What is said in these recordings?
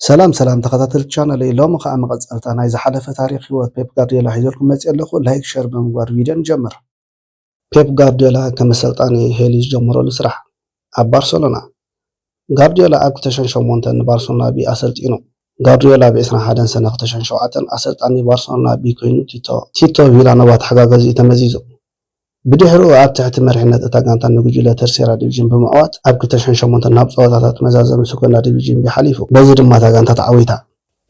ሰላም ሰላም ተኸታተልቲ ቻነለይ ሎሚ ከዓ መቐፀልታ ናይ ዝሓለፈ ታሪኽ ህይወት ፔፕ ጋርዲዮላ ሒዘልኩም መፂኤ ኣለኹ ላይክ ሸር ብምግባር ቪድዮ ንጀምር ፔፕ ጋርዲዮላ ከም ኣሰልጣኒ ሄሊ ዝጀመረሉ ስራሕ ኣብ ባርሰሎና ጋርዲዮላ ኣብ 2008 ንባርሰሎና ቢ ኣሰልጢኑ ጋርዲዮላ ብ 21 ሰነ 2007 ኣሰልጣኒ ባርሰሎና ቢ ኮይኑ ቲቶ ቲቶ ቪላኖቫ ተሓጋገዚኡ ተመዚዙ ብድሕሪኡ ኣብ ትሕቲ መሪሕነት እታ ጋንታ ንጉጅለ ተርሴራ ዲቪዥን ብምዕዋት ኣብ ክልተ ሽሕን ሸሞንተን ናብ ጸወታታት መዛዘሚ ሰኮንዳ ዲቪዥን ቢ ሓሊፉ። በዚ ድማ እታ ጋንታ ተዓዊታ።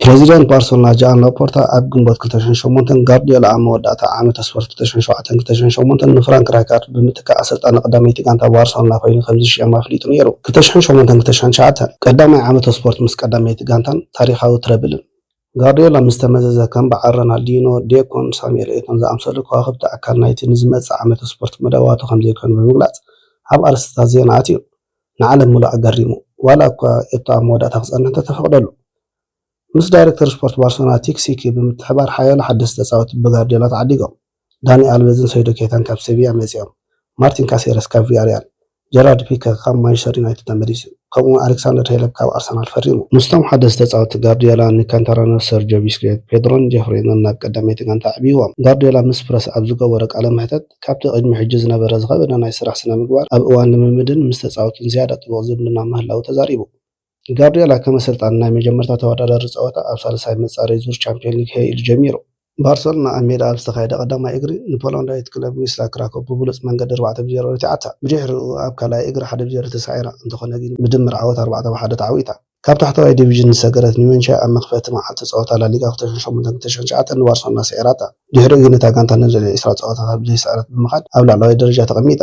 ፕረዚደንት ባርሰሎና ጃኣን ላፖርታ ኣብ ግንቦት ክልተ ሽሕን ሸሞንተን ጋርድዮላ ኣብ መወዳእታ ዓመተ ስፖርት ክልተ ሽሕን ሸውዓተን ክልተ ሽሕን ሸሞንተን ንፍራንክ ራይካርድ ብምትካእ ኣሰልጣኒ ቀዳመይቲ ጋንታ ባርሰሎና ኮይኑ ከምዝሽየም ኣፍሊጡ ነይሩ። ክልተ ሽሕን ሸሞንተን ክልተ ሽሕን ትሽዓተን ቀዳማይ ዓመተ ስፖርት ምስ ቀዳመይቲ ጋንታን ታሪኻዊ ትረብልን። ጋርድዮላ ምስ ተመዘዘ፣ ከም በዓል ረናልዲኖ፣ ዴኮን ሳሙኤል ኤቶን ዝኣምሰሉ ከዋኽብቲ ኣካል ናይቲ ንዝመጽእ ዓመተ ስፖርት መደባቱ ከምዘይኮኑ ብምግላጽ ኣብ ኣርእስቲታት ዜና ኣትዩ ንዓለም ምሉእ ኣገሪሙ። ዋላ'ኳ ኤቶ ኣብ መወዳእታ ክጸንሕ እንተተፈቕደሉ፣ ምስ ዳይረክተር ስፖርት ባርሰሎና ቲክ ሲኪ ብምትሕብባር ሓያሎ ሓደስቲ ተጻወትቲ ብጋርድዮላ ተዓዲጎም። ዳኒ ኣልቨዝን ሰይዶ ኬታን ካብ ሴቪያ መጺኦም፣ ማርቲን ካሴረስ ካብ ቪያርያል፣ ጀራርድ ፒከ ካብ ማንቸስተር ዩናይትድ ተመሊሱ፣ ከምኡ'ውን ኣሌክሳንደር ሄለፕ ካብ ኣርሰናል ፈሪሙ። ምስቶም ሓደስቲ ተጻወትቲ ጋርድዮላ፣ ንካንታራኖስ፣ ሰርጆ ቢስኬት፣ ፔድሮን ጀፍሪንን ናብ ቀዳመይቲ ጋንታ ኣዕብይዎም። ጋርድዮላ ምስ ፕረስ ኣብ ዝገበሮ ቃለ መሕተት፣ ካብቲ ቅድሚ ሕጂ ዝነበረ ዝኸበደ ናይ ስራሕ ስነ-ምግባር፣ ኣብ እዋን ልምምድን ምስ ተጻወትትን ዝያዳ ጥቡቕ ዝምድና ምህላዉ ተዛሪቡ። ጋርድዮላ ከም ኣሰልጣኒ ናይ መጀመርታ ተወዳዳሪ ጸወታ ኣብ ሳልሳይ መጻረዪ ዙር ቻምፕዮን ሊግ ሀይ ኢሉ ጀሚሩ። ባርሰሎና ኣብ ሜድኣ ኣብ ዝተኻየደ ቀዳማይ እግሪ ንፖላንዳዊት ክለብ ዊስላ ክራኮቭ ብብሉጽ መንገዲ ኣርባዕተ ብ ዜሮ ረቲዓታ። ብድሕሪኡ ኣብ ካልኣይ እግሪ ሓደ ብ ዜሮ ተሳዒራ፣ እንተኾነ ግን ብድምር ዓወት ኣርባዕተ ብ ሓደ ተዓዊታ። ካብ ታሕተዋይ ዲቪዥን ዝሰገረት ኒመንቺያ ኣብ መኽፈቲ መዓልቲ ጸወታ ላሊጋ ክልተ ሽሕን ሸሞንተን ክልተ ሽሕን ትሽዓተን ንባርሰሎና ስዒራታ። ብድሕሪኡ ግን እታ ጋንታ ንልዕሊ ዕስራ ጸወታታት ብዘይስዕረት ብምኻድ ኣብ ላዕለዋይ ደረጃ ተቐሚጣ።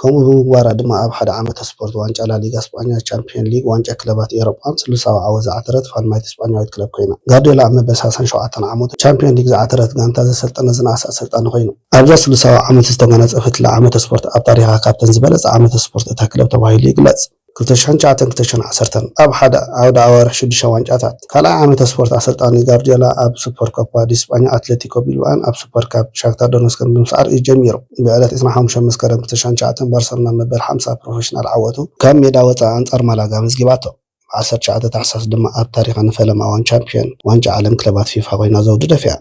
ከምኡ ብምግባራ ድማ ኣብ ሓደ ዓመተ ስፖርት ዋንጫ ላሊጋ ስጳኛ፣ ቻምፕዮን ሊግ፣ ዋንጫ ክለባት ኤውሮጳን ስሉሳዊ ዓወት ዝዓተረት ፋልማይቲ ስጳኛዊት ክለብ ኰይና። ጋርድዮላ ኣብ መበል ሳልሳን ሸውዓተን ዓመቱ ንቻምፕዮን ሊግ ዝዓተረት ጋንታ ዘሰልጠነ ዝነኣሰ ኣሰልጣኒ ኰይኑ። ኣብዛ ስሉሳዊ ዓመት ዝተጓናጸፈትላ ዓመተ ስፖርት ኣብ ታሪኻ ካብተን ዝበለጻ ዓመተ ስፖርት እታ ክለብ ተባሂሉ ይግለጽ። ክልተ ሽሕን ትሽዓተን ክልተ ሽሕን ዓሰርተን ኣብ ሓደ ዓውደ ኣዋርሕ ሽዱሽተ ዋንጫታት። ካልኣይ ዓመተ ስፖርት ኣሰልጣኒ ጋርድዮላ ኣብ ሱፐር ኮፓ ዲስጳኛ ኣትለቲኮ ቢልባኦን ኣብ ሱፐር ካፕ ሻክታር ዶነስከን ብምስዓር እዩ ጀሚሩ። ብዕለት ዕስራን ሓሙሽተን መስከረም ክልተ ሽሕን ትሽዓተን ባርሰሎና መበል ሓምሳ ፕሮፈሽናል ዓወቱ ካብ ሜዳ ወጻኢ ኣንጻር ማላጋ ኣመዝጊባቶ። ብ ዓሰርተ ትሽዓተ ታሕሳስ ድማ ኣብ ታሪኻ ንፈለማ እዋን ቻምፕዮን ዋንጫ ዓለም ክለባት ፊፋ ኮይና ዘውዲ ደፊኣ።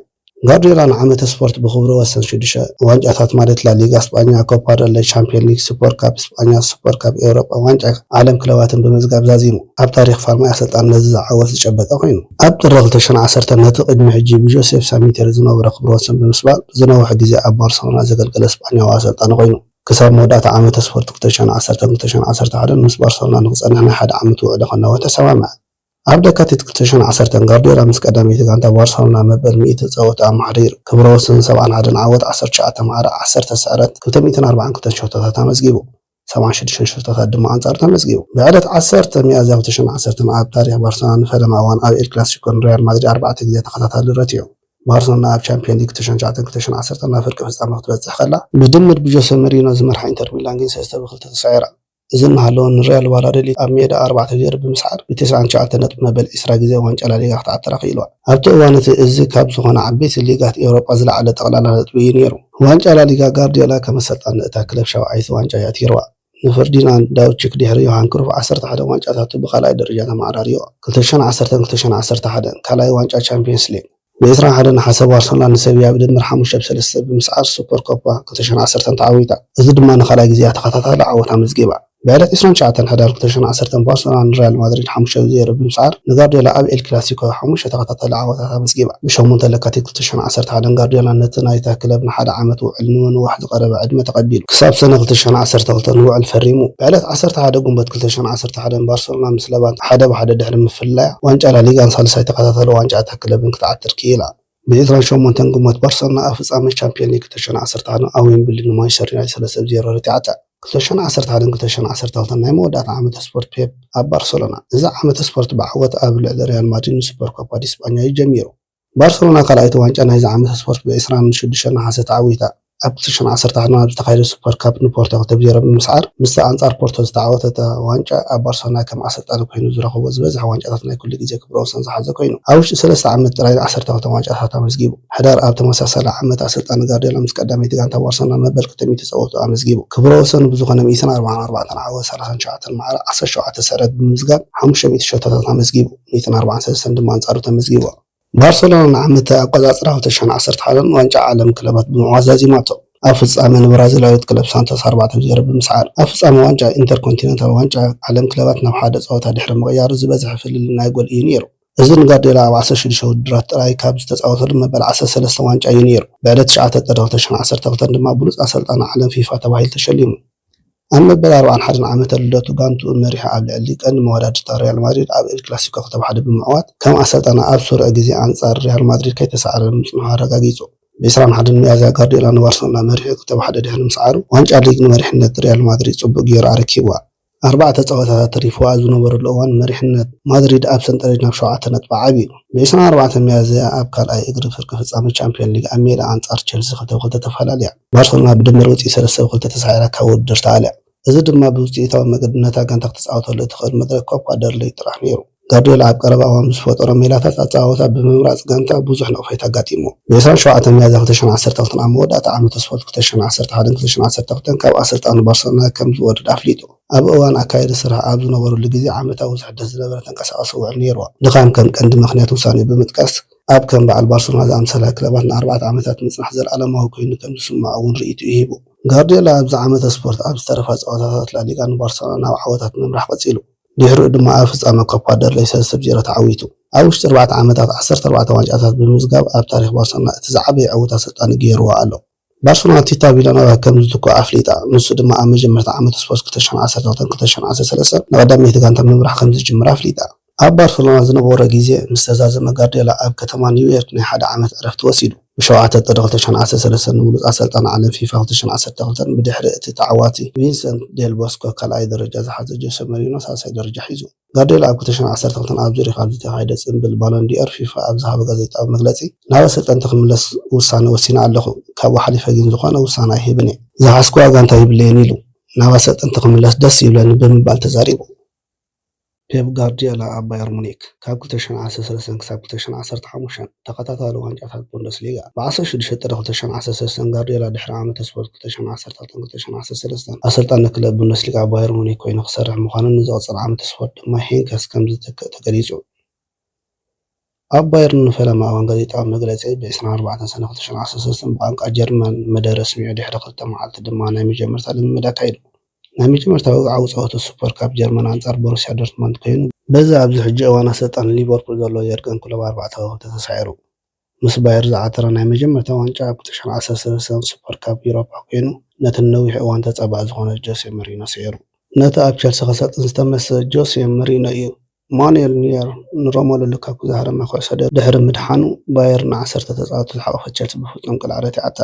ጋርድዮላ ንዓመተ ስፖርት ብኽብረ ወሰን ሽዱሽተ ዋንጫታት ማለት ላሊጋ ስጳኛ፣ ኮፓ ደል ረይ፣ ቻምፕዮን ሊግ፣ ሱፐር ካፕ ስጳኛ፣ ሱፐር ካፕ ኤውሮጳን ዋንጫ ዓለም ክለባትን ብምምዝጋብ ዛዚሙ ኣብ ታሪኽ ፋርማይ ኣሰልጣንነት'ዚ ዝዓወት ዝጨበጠ ኮይኑ። ኣብ ጥሪ ክልተ ሽሕን ዓሰርተን ነቲ ቅድሚ ሕጂ ብጆሴፍ ሳሚቴሪ ዝነበሮ ክብረ ወሰን ብምስባር ንዝነውሐ ግዜ ኣብ ባርሰሎና ዘገልገለ ስጳኛዊ ኣሰልጣኒ ኮይኑ። ክሳብ መወዳእታ ዓመተ ስፖርት ክልተ ሽሕን ዓሰርተን ክልተ ሽሕን ዓሰርተ ሓደን ምስ ባርሰሎና ንኽጸንሕ ናይ ሓደ ዓመት ውዕሊ ከናውሕ ተሰማምዐ። ኣብ ለካቲት ክልተ ሽሕን ዓሰርተን፣ ጋርድዮላ ምስ ቀዳመይቲ ጋንታ ባርሰሎና መበል ሚእቲ ጸወታ ኣብ ማሕደር ክብረ ወሰን ሰብዓን ሓደን ዓወት፣ ዓሰርተ ትሽዓተ ማዕረ፣ ዓሰርተ ስዕረት፣ ክልተ ሚእትን ኣርባዓን ክልተን ሸቶታት ኣመዝጊቡ። ሰብዓን ሽዱሽተን ሸቶታት ድማ ኣንጻሩ ተመዝጊቡ። ብዕለት ዓሰርተ ሚያዝያ ክልተ ሽሕን ዓሰርተን ኣብ ታሪኽ ባርሰሎና ንፈለማ እዋን ኣብ ኤል ክላሲኮ ንሪያል ማድሪድ ኣርባዕተ ግዜ ተኸታታሊ ረቲዑ። ባርሰሎና ኣብ ቻምፕዮን ሊግ ክልተ ሽሕን ትሽዓተን ክልተ ሽሕን ዓሰርተን ናብ ፍርቂ ፍጻመ ክትበጽሕ ከላ፣ ብድምር ብጆሰ መሪኖ ዝመርሓ ኢንተር ሚላን ግን ሰለስተ ብ ክልተ ተሳዒራ። እዚ እናሃለወ ንሪያል ቫላዶሊድ ኣብ ሜድኣ ኣርባዕተ ዜሮ ብምስዓር ብትስዓን ትሽዓተን ነጥቢ መበል ዒስራ ግዜ ዋንጫ ላሊጋ ክትዓትር ኣኽኢልዋ። ኣብቲ እዋን እቲ እዚ ካብ ዝኾና ዓበይቲ ሊጋት ኤውሮጳ ዝለዓለ ጠቕላላ ነጥቢ እዩ ነይሩ። ዋንጫ ላሊጋ ጋርድዮላ ከም ኣሰልጣኒ እታ ክለብ ሻውዓይቲ ዋንጫ እዩ ኣትይርዋ። ንፈርዲናንድ ዳውቺክ ድሕሪ ዮሃን ክሩፍ ዓሰርተ ሓደ ዋንጫታቱ ብካልኣይ ደረጃ ተመዓራርይዎ፣ ክልተ ሽሕን ዓሰርተን ክልተ ሽሕን ዓሰርተ ሓደን፣ ካልኣይ ዋንጫ ቻምፕዮንስ ሊግ። ብ ዕስራን ሓደን ነሓሰ ባርሰሎና ንሰቪያ ብድምር ሓሙሽተ ብ ሰለስተ ብምስዓር ሱፐር ኮፓ ክልተ ሸሕን ዓሰርተን ተዓዊታ። እዚ ድማ ንኻልኣይ ግዜኣ ተኸታታሊ ዓወት ኣመዝጊባ። ብዕለት ዕስራን ትሽዓተን ሕዳር ክልተ ሸሕን ዓሰርተን ባርሰሎና ንሪያል ማድሪድ ሓሙሽተ ብ ዜሮ ብምስዓር ንጋርድዮላ ኣብ ኤል ክላሲኮ ሓሙሽተ ተኸታታሊ ዓወታት ኣመዝጊባ። ብ ሸሞንተ ለካቲት ክልተ ሸሕን ዓሰርተ ሓደን ጋርድዮላ ነቲ ናይታ ክለብ ንሓደ ዓመት ውዕል ንምንዋሕ ዝቐረበ ዕድመ ተቐቢሉ ክሳብ ሰነ ክልተ ሸሕን ዓሰርተ ክልተን ውዕል ፈሪሙ። ብ ዕለት ዓሰርተ ሓደ ግንቦት ክልተ ሸሕን ዓሰርተ ሓደን ባርሰሎና ምስ ለቫንተ ሓደ ብ ሓደ ድሕሪ ምፍልላያ ዋንጫ ላሊጋን ሳልሳይ ተኸታታሊ ዋንጫ እታ ክልተ ክለብን ክትዓትር ክኢላ። ብ ዕስራን ሸሞንተን ግንቦት ባርሰሎና ኣብ ፍጻመ ቻምፕዮን ሊግ ክልተ ሽሕን ዓሰርተ ሓደን ኣብ ዌምብሊ ንማንቸስተር ዩናይትድ ሰለስተ ብ ዜሮ ረቲዓታ። ክልተ ሽሕን ዓሰርተ ሓደን ክልተ ሽሕን ዓሰርተ ክልተን ናይ መወዳእታ ዓመተ ስፖርት ፔፕ ኣብ ባርሰሎና። እዚ ዓመተ ስፖርት ብዓወት ኣብ ልዕሊ ሪያል ማድሪድ ን ሱፐር ኮፓ ዲስጳኛ'ዩ ጀሚሩ። ባርሰሎና ካልኣይቲ ዋንጫ ናይዚ ዓመተ ስፖርት ብ ዕስራን ሽዱሽተን ነሓሰ ተዓዊታ። ኣብቲ ሽዑ ዓሰርተ ዓመት ኣብ ዝተኻየደ ሱፐር ካፕ ንፖርቶ ክልተ ብ ዜሮ ብምስዓር ምስታ ኣንጻር ፖርቶ ዝተዓወተታ ዋንጫ ኣብ ባርሰሎና ከም ኣሰልጣኒ ኮይኑ ዝረኸቦ ዝበዝሐ ዋንጫታት ናይ ኩሉ ግዜ ክብረ ወሰን ዝሓዘ ኮይኑ ኣብ ውሽጢ ሰለስተ ዓመት ጥራይ ን ዓሰርተ ክልተ ዋንጫታት ኣመዝጊቡ ሕዳር ኣብ ተመሳሳሊ ዓመት ኣሰልጣኒ ጋርድዮላ ምስ ቀዳመይቲ ጋንታ ባርሰሎና መበል ክልተ ሚእቲ ጸወትኡ ኣመዝጊቡ ክብረ ወሰኑ ብዝኾነ ሚእትን ኣርብዓን ኣርባዕተን ዓወት ሰላሳን ትሽዓተን ማዕረ ዓሰርተ ሸውዓተ ስዕረት ብምምዝጋብ ሓሙሽተ ሚእቲ ሸቶታት ኣመዝጊቡ ሚእትን ኣርብዓን ሰለስተን ድማ ኣንጻሩ ተመዝጊቡ። ባርሰሎና ንዓመተ ኣቆጻጽራ ሁለት ሺ ዓሰርተ ሓደ ን ዋንጫ ዓለም ክለባት ብምዕዋት ዛዚማቶ። ኣብ ፍጻመ ንብራዚላዊት ክለብ ሳንቶስ ኣርባዕተ ብ ዜሮ ብምስዓር፣ ኣብ ፍጻመ ዋንጫ ኢንተርኮንቲነንታል ዋንጫ ዓለም ክለባት ናብ ሓደ ጸወታ ድሕሪ ምቕያሩ ዝበዝሐ ፍልልይ ናይ ጎል እዩ ነይሩ። እዚ ንጋርድዮላ ኣብ ዓሰርተ ሽዱሽተ ውድድራት ጥራይ ካብ ዝተጻወተሎም መበል ዓሰርተ ሰለስተ ዋንጫ እዩ ነይሩ። ብዕለት ትሽዓተ ጥሪ ክልተ ሺ ዓሰርተ ክልተ ድማ ብሉጽ ኣሰልጣኒ ዓለም፣ ፊፋ፣ ተባሂሉ ተሸሊሙ። ኣብ መበል ኣርብዓን ሓደን ዓመተ ልደቱ ጋንትኡ መሪሑ ኣብ ልዕሊ ቀንዲ መወዳድርታ ሪያል ማድሪድ ኣብ ኤል ክላሲኮ ክተብ ሓደ ብምዕዋት ከም ኣሰልጣኒ ኣብ ስሩዕ ግዜ ኣንጻር ሪያል ማድሪድ ከይተሳዕረ ምጽንሑ ኣረጋጊጹ። ብ ዕስራን ሓደን ሚያዝያ ጋርድዮላ ንባርሰሎና መሪሑ ክተብ ሓደ ድሕሪ ምስዓሩ ዋንጫ ሊግ ንመሪሕነት ሪያል ማድሪድ ጽቡቕ ገይሩ ኣረኪብዋ። ኣርባዕተ ጸወታታት ተሪፍዋ ኣብ ዝነበረሉ እዋን መሪሕነት ማድሪድ ኣብ ሰንጠረዥ ናብ ሸውዓተ ነጥቢ ዓብዩ። ብ ዕስራን ኣርባዕተን ሚያዝያ ኣብ ካልኣይ እግሪ ፍርቂ ፍጻመ ቻምፕዮን ሊግ ኣብ ሜድኣ ኣንጻር ቸልሲ ክተብ ክልተ ተፈላልያ። ባርሰሎና ብድምር ውፅኢት ሰለስተ ብ ክልተ ተሳዒራ ካብ ውድድር ተኣልያ። እዚ ድማ ብውፅኢታዊ መገዲ ነታ ጋንታ ክትፃወተሉ እትኽእል መድረክ ኮፕ ጓደርለይ ጥራሕ ነይሩ። ጋርዲዮላ ኣብ ቀረባ እዋን ብዝፈጠሮ ሜላታት ኣፀዋውታ ብምምራፅ ጋንታ ብዙሕ ነቕፌታ ኣጋጢምዎ። ብ ዕስራን ሸውዓተን ሚያዝያ ክልተ ሽሕን ዓሰርተ ክልተን ኣብ መወዳእታ ዓመተ ስፖርት ክልተ ሽሕን ዓሰርተ ሓደን ክልተ ሽሕን ዓሰርተ ክልተን ካብ ኣሰልጣኒ ባርሰሎና ከም ዝወርድ ኣፍሊጡ። ኣብ እዋን ኣካየዲ ስርሓ ኣብ ዝነበረሉ ግዜ ዓመታዊ ዝሕደስ ዝነበረ ተንቀሳቓሲ ውዕል ነይርዋ። ድኻም ከም ቀንዲ ምኽንያት ውሳኔኡ ብምጥቃስ፣ ኣብ ከም በዓል ባርሰሎና ዝኣመሰላ ክለባት ንኣርባዕተ ዓመታት ምጽናሕ ዘለኣለማዊ ኰይኑ ከም ዝስምዖ'ውን ርእይቶኡ ሂቡ። ጋርድዮላ ኣብዚ ዓመተ ስፖርት ኣብ ዝተረፋ ጸወታታት ላሊጋ ንባርሰሎና ናብ ዓወታት ምምራሕ ቀጺሉ። ድሕሪኡ ድማ ኣብ ፍጻመ ኮፓ ደል ረይ ሰለስተ ብ ዜሮ ተዓዊቱ። ኣብ ውሽጢ ኣርባዕተ ዓመታት ዓሰርተ ኣርባዕተ ዋንጫታት ብምምዝጋብ ኣብ ታሪኽ ባርሰሎና እቲ ዝዓበየ ዕውት ኣሰልጣኒ ገይርዎ ኣሎ። ባርሰሎና ቲታ ቪላኖቫ ከም ዝትክኦ ኣፍሊጣ፣ ንሱ ድማ ኣብ መጀመርታ ዓመት ስፖርት ክልተ ሽሕን ዓሰርተ ክልተን ክልተ ሽሕን ዓሰርተ ሰለስተን ንቐዳመይቲ ጋንታ ምምራሕ ከም ዝጅምር ኣፍሊጣ። ኣብ ባርሰሎና ዝነበሮ ግዜ ምስ ተዛዘመ ጋርድዮላ ኣብ ከተማ ኒውዮርክ ናይ ሓደ ዓመት ዕረፍቲ ወሲዱ። ብሸውዓተ ጥሪ ክልተ ሽሕን ዓሰርተ ሰለስተን ንብሉጽ ኣሰልጣኒ ዓለም ፊፋ ክልተ ሽሕን ዓሰርተ ክልተን ብድሕሪ እቲ ተዓዋቲ ቪንሰንት ዴል ቦስኮ ካልኣይ ደረጃ ዝሓዘ ጆሰ መሪኖ ሳልሳይ ደረጃ ሒዙ። ጋርድዮላ ኣብ ክልተ ሽሕን ዓሰርተ ክልተን ኣብ ዙሪኽ ኣብ ዝተኻየደ ጽንብል ባሎን ዲ'ኦር፣ ፊፋ ኣብ ዝሃቦ ጋዜጣዊ መግለጺ፣ ናብ ኣሰልጠንቲ ክምለስ ውሳነ ወሲነ ኣለኹ፣ ካብኡ ሓሊፈ ግን ዝኾነ ውሳነ ኣይህብን እየ። ዝሓዝኩዋ ጋንታ የብለይን ኢሉ። ናብ ኣሰልጠንቲ ክምለስ ደስ ይብለኒ ብምባል ተዛሪቡ። ፔፕ ጋርድዮላ ኣብ ባየር ሙኒክ፣ ካብ ክልተ ሽሕን ዓሰርተ ሰለስተን ክሳብ ክልተ ሽሕን ዓሰርተ ሓሙሽተን፣ ተኸታታሊ ዋንጫታት ቡንደስሊጋ። ብዓሰርተ ሽዱሽተ ጥሪ ክልተ ሽሕን ዓሰርተ ሰለስተን ጋርድዮላ ድሕሪ ዓመተ ስፖርት ክልተ ሽሕን ዓሰርተክልተን ክልተ ሽሕን ዓሰርተ ሰለስተን ኣሰልጣኒ ክለብ ቡንደስሊጋ ባየር ሙኒክ ኰይኑ ክሰርሕ ምዃኑን ንዝቕጽል ዓመተ ስፖርት ድማ ሄንከስ ከም ዝተክእ ተገሊጹ። ኣብ ባየርን ንፈለማ እዋን ጋዜጣዊ መግለጺ ብ ዕስራን ኣርባዕተን ሰነ ክልተ ሽሕን ዓሰርተ ሰለስተን ብቛንቋ ጀርመን መደረ ኣስሚዑ ድሕሪ ክልተ መዓልቲ ድማ ናይ መጀመርታ ልምምድ ኣካይዱ። ናይ መጀመርታ ወግዓዊ ጸወታ ሱፐር ካፕ ጀርመን ኣንጻር ቦሩስያ ዶርትመንድ ኮይኑ፣ በዚ ኣብዚ ሕጂ እዋን ኣሰልጣኒ ሊቨርፑል ዘሎ የርገን ክሎፕ ኣርባዕተ ከዋኽብቲ ተሳዒሩ ምስ ባየር ዝዓተረ ናይ መጀመርታ ዋንጫ ኣብ ክልተ ሽሕን ዓሰርተ ሰለስተን ሱፐር ካፕ ዩሮፓ ኮይኑ ነቲ ንነዊሕ እዋን ተጻባኢ ዝኾነ ጆሴ መሪኖ ስዒሩ። ነቲ ኣብ ቸልሲ ከሰልጥን ዝተመሰ ጆሴ መሪኖ'ዩ ማኑኤል ኑየር ንሮመሉ ሉካኩ ዝሃረመ ኩዕሶ ድሕሪ ምድሓኑ ባየር ንዓሰርተ ተጻወትቲ ዝሓቖፈት ቸልሲ ብፍጹም ቅልዕ ረቲዓታ።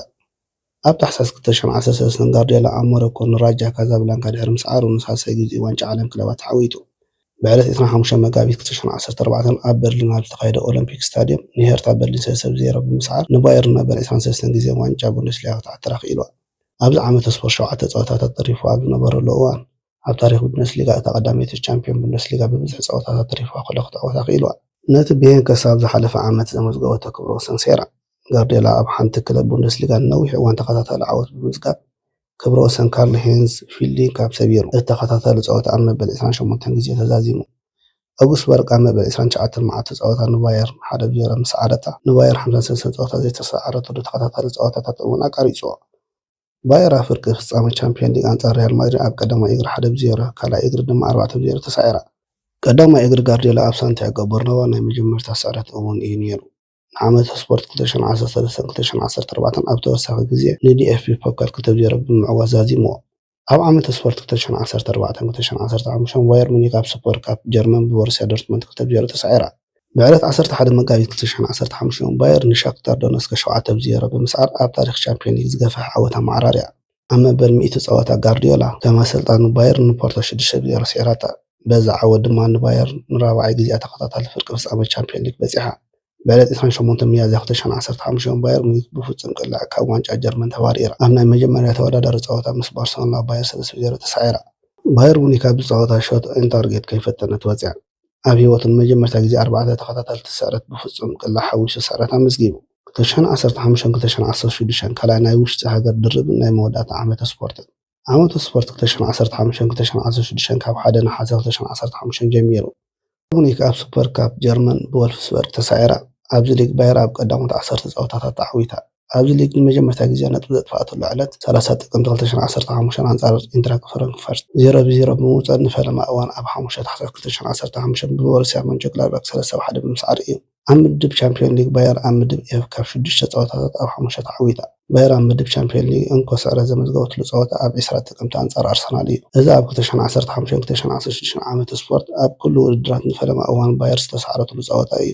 ኣብ ታሕሳስ ክልተ ሸሕን ዓሰርተ ሰለስተን ጋርድዮላ ኣብ ሞሮኮ ንራጃ ካዛብላንካ ድሕሪ ምስዓሩ ንሳልሳይ ግዜኡ ዋንጫ ዓለም ክለባት ተዓዊቱ። ብዕለት ዕስራን ሓሙሽተን መጋቢት ክልተ ሸሕን ዓሰርተ ኣርባዕተን ኣብ በርሊን ኣብ ዝተኻየደ ኦሎምፒክ ስታድየም ንሄርታ በርሊን ሰለስተ ብ ዜሮ ብምስዓር ንባየርን መበል ዕስራን ሰለስተን ግዜ ዋንጫ ቡንደስሊጋ ክትዓትር ኣኽኢልዋ። ኣብዚ ዓመተ ስፖርት ሸውዓተ ጸወታታት ተሪፉዋ ኣብ ዝነበረሉ እዋን፣ ኣብ ታሪኽ ቡንደስሊጋ እታ ቀዳመይቲ ቻምፕዮን ቡንደስሊጋ ብብዝሒ ጸወታታት ተሪፉዋ ከሎ ክትዓወታ ክኢሉዋ። ነቲ ብሄን ክሳብ ዝሓለፈ ዓመት ዘመዝገበቶ ክብረ ወሰን ሰይራ፣ ጋርድዮላ ኣብ ሓንቲ ክለብ ቡንደስሊጋ ንነዊሕ እዋን ተኸታታሊ ዓወት ብምምዝጋብ ክብረ ወሰን ካርል ሄይንዝ ፊልዲንካፕ ሰቢሩ። እቲ ተኸታታሊ ጸወታ ኣብ መበል ዕስራን ሸሞንተን ግዜ ተዛዚሙ። ኣውግስበርግ ኣብ መበል ዕስራን ትሽዓተን መዓልቲ ጸወታ ንባየርን ሓደ ብ ዜሮ ምስ ሰዓረታ፣ ንባየር ሓምሳን ሰለስተን ጸወታ ዘይተሰዓረትሉ ተኸታታሊ ጸወታታት እውን ኣቛሪጹዎ። ባየር ኣብ ፍርቂ ፍጻመ ቻምፕዮን ሊግ ኣንጻር ሪያል ማድሪድ ኣብ ቀዳማይ እግሪ ሓደ ብ ዜሮ ካልኣይ እግሪ ድማ ኣርባዕተ ብ ዜሮ ተሳዒራ። ቀዳማይ እግሪ ጋርድዮላ ኣብ ሳንቲያጎ በርናባ ናይ መጀመርታ ስዕረት እውን እዩ ነይሩ። ንዓመተ ስፖርት ክልተ ሺሕን ዓሰርተ ሰለስተን ክልተ ሺሕን ዓሰርተ ኣርባዕተን ኣብ ተወሳኺ ግዜ ንዲኤፍቢ ፖካል ክልተ ብ ዜሮ ብምዕዋት ዛዚምዎ። ኣብ ዓመተ ስፖርት ክልተ ሺሕን ዓሰርተ ኣርባዕተን ክልተ ሺሕን ዓሰርተ ሓሙሽተን ባየር ሙኒክ ኣብ ሱፐር ካፕ ጀርመን ብቦሩስያ ዶርትመንድ ክልተ ብ ዜሮ ተሳዒራ። ብዕለት ዓሰርተ ሓደ መጋቢት ክልተ ሽሕን ዓሰርተ ሓሙሽተን፣ ባየር ንሻክታር ዶነስከ ሸውዓተ ብ ዜሮ ብምስዓር ኣብ ታሪኽ ቻምፕዮን ሊግ ዝገፈሐ ዓወት ኣመዓራርያ። ኣብ መበል ሚእቲ ጸወታ ጋርድዮላ ከም ኣሰልጣኒ ባየርን ንፖርቶ ሽዱሽተ ብ ዜሮ ስዒራታ። በዚ ዓወት ድማ ንባየር ንራብዓይ ግዜኣ ተኸታታሊ ፍርቂ ፍጻመ ቻምፕዮን ሊግ በጺሓ። ብዕለት ዕስራን ሸሞንተን ሚያዝያ ክልተ ሽሕን ዓሰርተ ሓሙሽተን፣ ባየር ሙኒክ ብፍጹም ቅለዕ ካብ ዋንጫ ጀርመን ተባሪራ። ኣብ ናይ መጀመርያ ተወዳዳሪ ጸወታ ምስ ባርሰሎና ባየር ሰለስተ ብ ዜሮ ተሳዒራ። ባየር ሙኒክ ኣብዚ ጸወታ ሾት ኦን ታርጌት ከይፈተነት ወጺኣ። ኣብ ህይወቱ ንመጀመርታ ግዜ ኣርባዕተ ተኸታተልቲ ስዕረት ብፍጹም ቅላዕ ሓዊሱ ስዕረት ኣመዝጊቡ። 2015ን 2016ን ካልኣይ ናይ ውሽጢ ሃገር ድርብን ናይ መወዳእታ ዓመተ ስፖርትን። ዓመተ ስፖርት 2015ን 2016ን ካብ ሓደ ነሓሰ 2015 ጀሚሩ። ሙኒክ ኣብ ሱፐር ካፕ ጀርመን ብወልፍስበርግ ተሳዒራ። ኣብዚ ሊግ ባየር ኣብ ቀዳሞት ዓሰርተ ጸወታታት ተዓዊታ። ኣብዚ ሊግ ንመጀመርታ ግዜ ነጥቢ ዘጥፍኣትሉ ዕለት ሰላሳ ጥቅምቲ ክልተ ሽሕን ዓሰርተ ሓሙሽተን ኣንጻር ኢንትራክ ፍራንክፈርት ዜሮ ብ ዜሮ ብምውጻእ ንፈለማ እዋን ኣብ ሓሙሽተ ታሕሳስ ክልተ ሽሕን ዓሰርተ ሓሙሽተን ብቦሩስያ ሞንቸንግላድባክ ሰለስተ ብ ሓደ ብምስዓር እዩ። ኣብ ምድብ ቻምፕዮን ሊግ ባየር ኣብ ምድብ ኤፍ ካብ ሽዱሽተ ጸወታታት ኣብ ሓሙሽተ ተዓዊታ። ባየር ኣብ ምድብ ቻምፕዮን ሊግ እንኮ ስዕረት ዘመዝገበትሉ ጸወታ ኣብ ዕስራ ጥቅምቲ ኣንጻር ኣርሰናል እዩ። እዚ ኣብ ክልተ ሽሕን ዓሰርተ ሓሙሽተን ክልተ ሽሕን ዓሰርተ ሽዱሽተን ዓመተ ስፖርት ኣብ ኩሉ ውድድራት ንፈለማ እዋን ባየር ዝተሳዕረትሉ ጸወታ እዩ።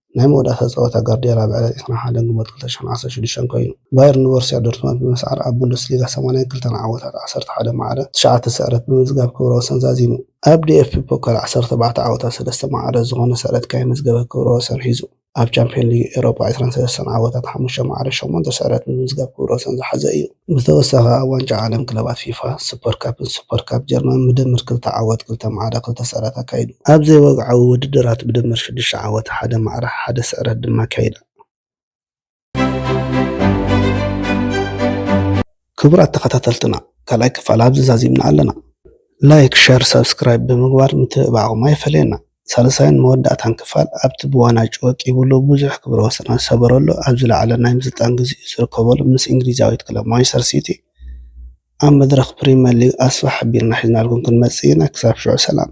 ናይ መወዳእታ ጸወታ ጋርድያላ ኣብ ዕለት ዕስራን ሓደን ግንቦት ክልተ ሽሕን ዓሰርተ ሽዱሽተን ኮይኑ፣ ባየር ንቦርሲያ ዶርትመንድ ብምስዓር ኣብ ቡንደስሊጋ ሰማንያን ክልተን ዓወታት ዓሰርተ ሓደ ማዕረ፣ ትሽዓተ ስዕረት ብምምዝጋብ ክብረ ወሰን ዛዚሙ። ኣብ ዲኤፍቢ ፖካል ዓሰርተ ኣርባዕተ ዓወታት ሰለስተ ማዕረ ዝኾነ ስዕረት ከይመዝገበ ክብረ ወሰን ሒዙ። ኣብ ቻምፕዮን ሊግ ኤውሮጳ ዕስራን ሰለስተን ዓወታት ሓሙሽተ ማዕረ፣ ሸሞንተ ስዕረት ብምምዝጋብ ክብረ ወሰን ዝሓዘ እዩ። ብተወሳኺ ኣብ ዋንጫ ዓለም ክለባት ፊፋ፣ ሱፐር ካፕን ሱፐር ካፕ ጀርመን ብድምር ክልተ ዓወት፣ ክልተ ማዕረ፣ ክልተ ስዕረት ኣካይዱ። ኣብ ዘይወግዓዊ ውድድራት ብድምር ሽዱሽተ ዓወት፣ ሓደ ማዕረ፣ ሓደ ስዕረት ድማ ኣካይዳ። ክቡራት ተኸታተልትና ካልኣይ ክፋል ኣብዚ ዛዚምና ኣለና። ላይክ፣ ሸር፣ ሳብስክራይብ ብምግባር ምትብባዕኹም ኣይፈለየና። ሳልሳይን መወዳእታን ክፋል ኣብቲ ብዋና ጭወቂቡሉ ብዙሕ ክብረ ወሰናት ዝሰበረሉ ኣብ ዝለዓለ ናይ ምስልጣን ግዜኡ ዝርከበሉ ምስ እንግሊዛዊት ክለብ ማንቸስተር ሲቲ ኣብ መድረኽ ፕሪመር ሊግ ኣስፋ ሓቢርና ሒዝናልኩም ክንመጽእ ኢና ክሳብ ሽዑ ሰላም።